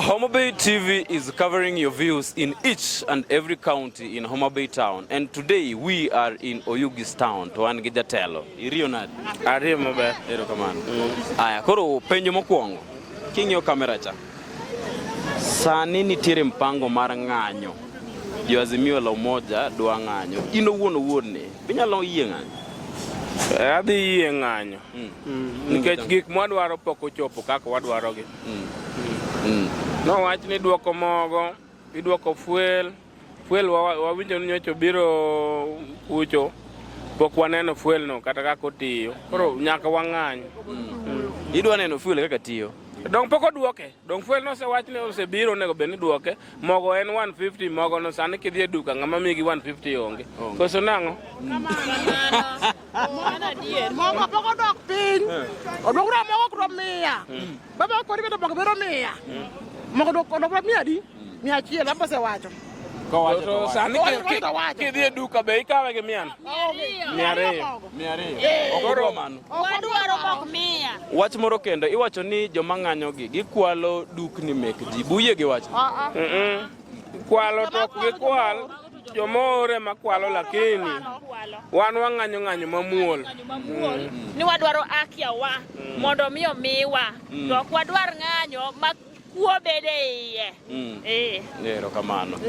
Homa Bay TV is covering your views in each and every county in Homa Bay town and today we are in Oyugis town to an gi jatelo iriyo nadi ariyo maber ero kamano mm. aya koro penjo mokwongo king'iyo kamera cha sani nitiere mpango mar ng'anyo jo Azimio la Umoja dwa ng'anyo in owuon owuon ni inyalo yie ng'anyo eh, adhi yie ng'anyo mm. mm. nikech gik mwadwaro pok ochopo kaka wadwarogi mm. mm. nowach ni dwoko mogo idwoko fuel fuel wawinjo wa ni nyocho biro kucho pok waneno fuel no kata kaka otiyo koro nyaka wang'any mm. mm. idwa neno fuel kaka tiyo dong pok odwoke Dong fuel nosewach ni osebiro onego bed ni duoke. Mogo en 150 mogo no sani kidhi e duka ng'ama migi 150 onge. Koso nang'o? mogo pok odok piny odok na mogo kuro miya baba kori bedo mogo biro miya mogo odok odok na miya di Mia achiel baba osewacho. Kowacho to sani kidhi e duka be ikawe gi mia mia ariyo mia ariyo eh. okoro mano wadwaro mok mia wach moro kendo iwacho ni joma ng'anyo gi gikwalo dukni mek ji buye gi wach ah, ah. kwalo to ok gikwal jomore makwalo lakini wan wang'anyo ng'anyo mamuol mm. ni wadwaro akiawa mm. mondo mi omiwa mm. to ok wadwar ng'anyo ma kuo bede iye mm. e. erokamano